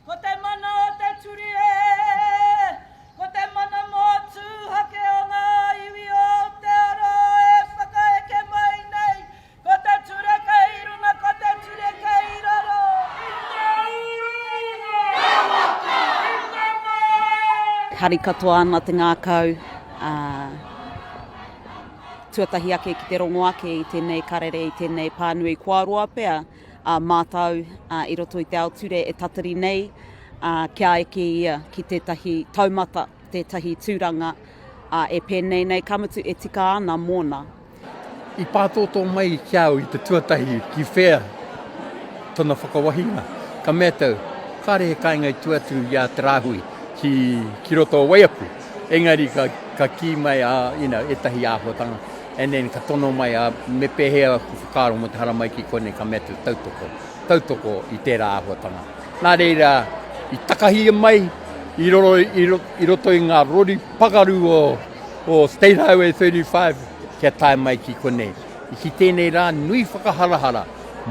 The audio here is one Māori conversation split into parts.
Ko te mana o te turi e, ko te mana mō tūhake o ngā iwi o Aotearoa e whakaeke mai nei, ko te ture kei runga, ko te ture kei raro. I te ūrūnga, i te māra. Hari katoa ana te ngākau, ā, tuatahi ake ki te rongo ake i tēnei karere, i tēnei pānui, kua roa pea. a mātou i roto i te ao ture e tatari nei kia eke ia ki tētahi taumata, tētahi tūranga e pēnei nei, ka mutu e tika ana mōna. I pātōtō mai ki a au i te tuatahi ki whea tona whakawahinga, ka mea tau, kāre he kāinga i tua atu i a Te Rāhui ki roto o Waiapu, engari ka kī mai ētahi āhuatanga. And then ka tono mai, ā, me pēhea aku whakaaro mō te haramai ki konei, ka mea atu, tautoko, tautoko i tērā āhuatanga. Nā reira, i takahia mai i roro, i, i roto i ngā rori pagaru o, o State Highway 35, kia tae mai ki konei. I ki tēnei rā, nui whakaharahara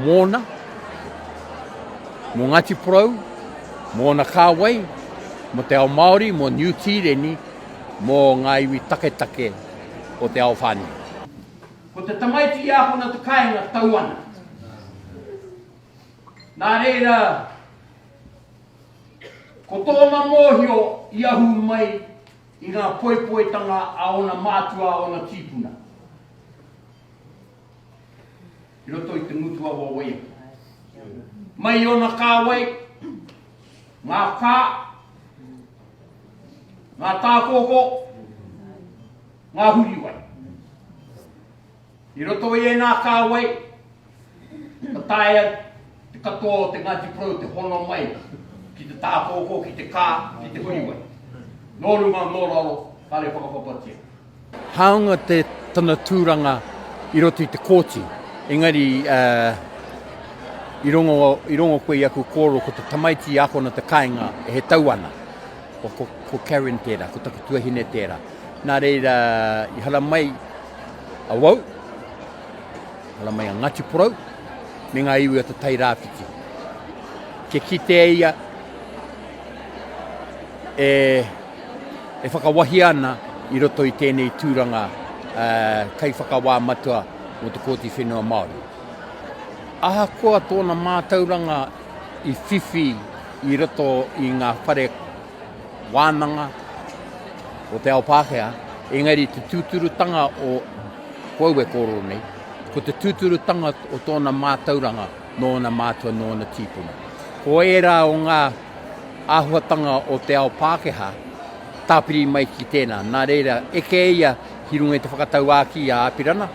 mōna, mō Ngāti Porou, mōna kāwai, mō te ao Māori, mō Niu Tīreni, mō ngā iwi taketake, o te ao whānui. Ko te tamaiti i ākona te kāinga tau ana. Nā reira, ko tōna mōhio i ahu mai i ngā poipoitanga a ōna mātua, a ōna tīpuna. i roto i te ngutu awa o ia. Mai i ona kāwai, ngā kā, ngā tākōkō, ngā huriwai. I roto i ēnā kāwai, ka taea te katoa o te Ngāti Porou te hono mai ki te tākōkō, ki te kā, ki te huriwai. Nō runga, nō raro, kāre whakapapatia. Hāunga te tana tūranga i roto i te kōti, engari i rongo, i rongo koe i aku kōrero ko te tamaiti i akona te kāinga e he tau ana. Ko, ko, ko Karen tērā, ko taku tuahine tērā. Nā reira, i haramai awau, haramai a Ngāti Porou, me ngā iwi o te Tai Rāwhiti. Kia kitea ia, e, e whakawahia ana i roto i tēnei tūranga Kaiwhakawā Matua mō te Kōti Whenua Māori. Ahakoa tōna mātauranga i whiwhi i roto i ngā whare wānanga o te ao Pākehā, engari te tūturutanga o ko au e kōrero nei, ko te tūturutanga o tōna mātauranga nōna mātua, nōna tīpuna. Ko ērā o ngā. āhuatanga o te ao Pākehā, tāpiri mai ki tēnā. Nā reira, eke ia ki runga i te whakatauākī i a Apirana,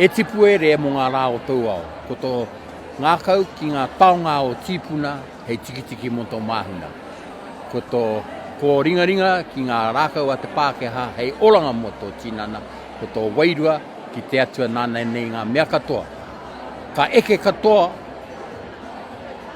E tipu ere mō ngā rā o tōu ao, ko tō ngākau ki ngā taonga o tīpuna hei tikitiki mō tō māhuna, ko tō kōringaringa ki ngā rākau a te Pākehā hei oranga mō tō tinana, ko tō wairua ki te Atua nāna nei ngā mea katoa. Ka eke katoa.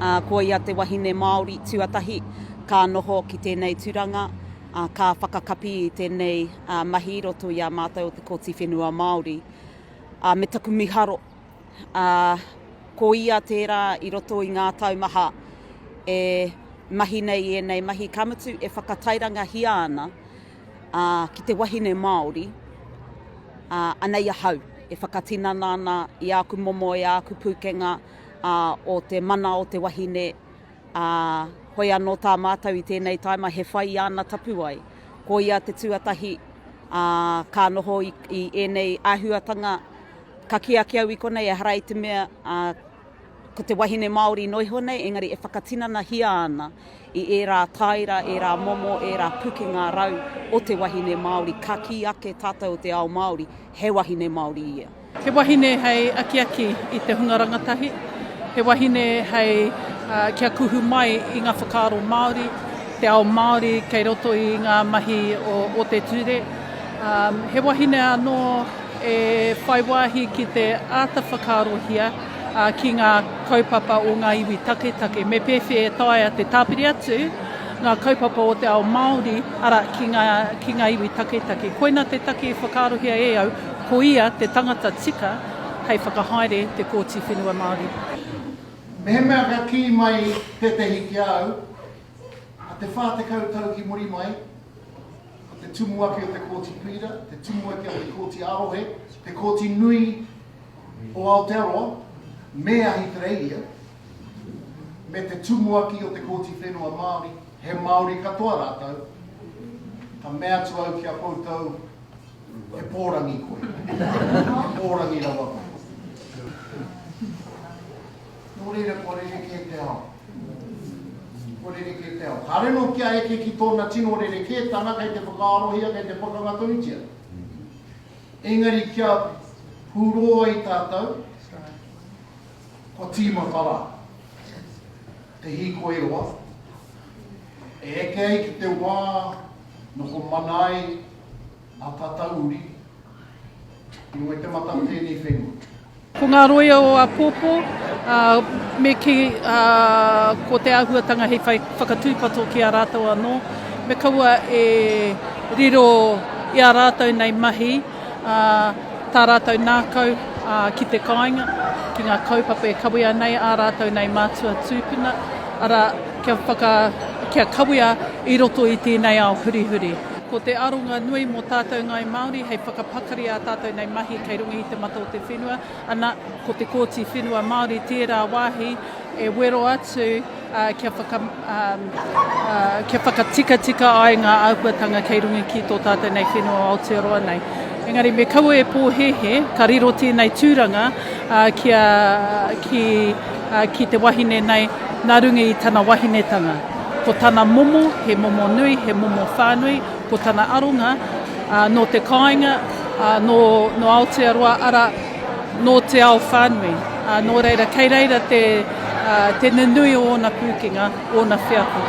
Ā, ko ia te wahine Māori tuatahi ka noho ki tēnei turanga, ā, ka whakakapi i tēnei mahi i roto i a mātou o te Kōti Whenua Māori. Ā, me taku miharo, ā, ko ia tērā i roto i ngā tau maha e mahi nei i ēnei mahi, ka mutu e whakatairangahia ana, ā, ki te wahine Māori, ā, anei ahau e whakatinana ana i āku momo, i āku pūkenga, ā, o te mana o te wahine, ā, hoi anō tā mātou i tēnei tāima he whai i āna tapuwae. Ko ia te tuatahi, ā, ka noho i, i ēnei āhuatanga, ka kī ake au i konei ehara i te mea, ā, ko te wahine Māori noa iho nei, engari e whakatinanahia ana i ērā tāira, ērā momo, ērā pukenga rau o te wahine Māori, ka kī ake tātou o te ao Māori, he wahine Māori ia. He wahine hei akiaki i te hunga rangatahi, he wahine hei kia kuhu mai i ngā whakaaro Māori, te ao Māori kei roto i ngā mahi o te ture. He wahine anō e whai wāhi ki te āta whakaarohia ki ngā kaupapa o ngā iwi taketake. Me pēwhea e taea te tāpiri atu ngā kaupapa o te ao Māori, arā, ki ngā iwi taketake. Koina te take i whakaarohia e au. Ko ia te tangata tika hei whakahaere te Kōti Whenua Māori. Mehemea ka kī mai tētehi ki a au, a te whā tekau tau ki muri mai, ko te tumuaki o te Kōti Pīra, te tumuaki o te Kōti ā-Rohe, te Kōti Nui o Aotearoa me Ahitereiria, me te tumuaki o te Kōti Whenua Māori, he Māori katoa rātou, ka mea atu au ki a koutou, He pōrangi koe. He pōrangi rawa koe. Nō reira kua rerekē te ao. Kua rerekē te ao. Kāre anō kia eke ki tōna tino rerekētanga kei te whakaarohia, kei te pakanga tonutia. Engari kia hūrō ai tātou, kua tīmata rā. Te hīkoi roa. E eke ai ki te wā noko mana ai A tata uri, i roe te mata o tēnei whenua. Ko ngā roia o āpōpō, ā, me kī, ā, ko te āhuatanga hei whai whakatūpato ki a rātou anō, me kaua e riro i ā rātou nei mahi, ā, tā rātou ngākau, ā, ki te kāinga, ki ngā kaupapa e kawea nei ā rātou nei mātua tūpuna, arā, kia whaka, kia kawea i roto i tēnei ao hurihuri. Ko te aronga nui mō tātou Ngāi Māori hei whakapakari ā tātou nei mahi kei runga i te mata o te whenua, ana, ko te Kōti Whenua Māori tērā wāhi e wero atu kia whakatikatika ai ngā āhuatanga kei runga ki tō tātou nei whenua o Aotearoa nei. Engari me kaua e pōhēhē, ka riro tēnei tūranga ki ki te wahine nei, nā runga i tana wahinetanga. Ko tana momo, he momo nui, he momo whānui, ko tana aronga, ā, nō te kāinga, ā, nō, nō Aotearoa, arā, nō te ao whānui. Ā, nō reira, kei reira te, ā, te nunui o ōna pūkenga, ōna wheako.